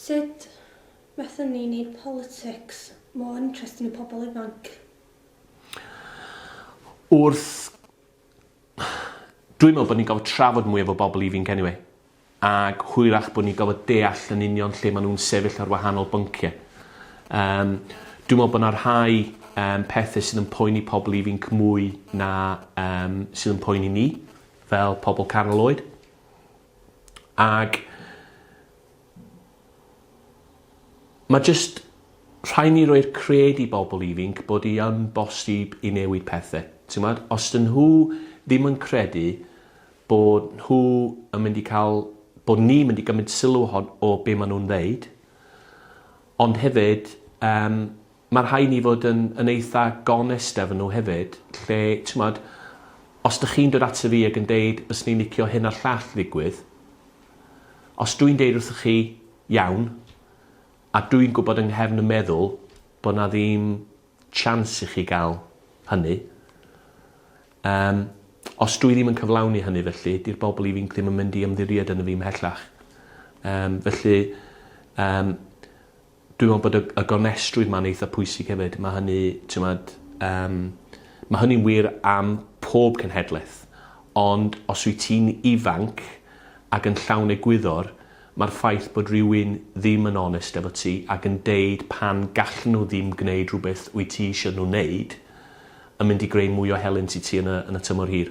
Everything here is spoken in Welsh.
Sut fethon ni neud politics more interesting i pobl ifanc? Wrth... Dwi'n meddwl bod ni'n gorfod trafod mwy efo bobl ifinc anyway. Ac hwyrach bod ni'n gorfod deall yn union lle maen nhw'n sefyll ar wahanol bynciau. Yym, dwi'n meddwl bod yna rhai um, pethau sydd yn poeni pobl ifinc mwy na um, sydd yn poeni ni, fel pobl canol oed. Ag ma' jyst rhai' ni roi'r cred i bobl ifinc bod i yn bosib i newid pethe. T'mod? Os 'dyn nhw ddim yn credu bod nhw yn mynd i ca'l bod ni'n mynd i gymryd sylw ohon- o be' ma' nhw'n ddeud, ond hefyd yym Mae rhai ni fod yn yn eitha gonest efo nhw hefyd lle t'mod os dych chi'n dod ato fi ag yn deud byswn i'n licio hyn a'r llall ddigwydd os dwi'n deud wrthoch chi iawn a dwi'n gwybod yng nghefn y meddwl bod 'na ddim chance i chi gael hynny yym os dwi ddim yn cyflawni hynny felly 'di'r bobl ifinc ddim yn mynd i ymddiried yno fi ymhellach. Yym felly yym Dwi'n me'wl bod y y gonestrwydd 'ma'n eitha pwysig hefyd ma' hynny t'mod yym ma' hynny'n wir am pob cenhedleth ond os wyt ti'n ifanc ag yn llawn egwyddor ma'r ffaith bod rywun ddim yn onest efo ti ac yn deud pan gallen nhw ddim gneud rhywbeth wyt ti isio nhw neud yn mynd i greu mwy o helynt i ti yn y yn y tymor hir.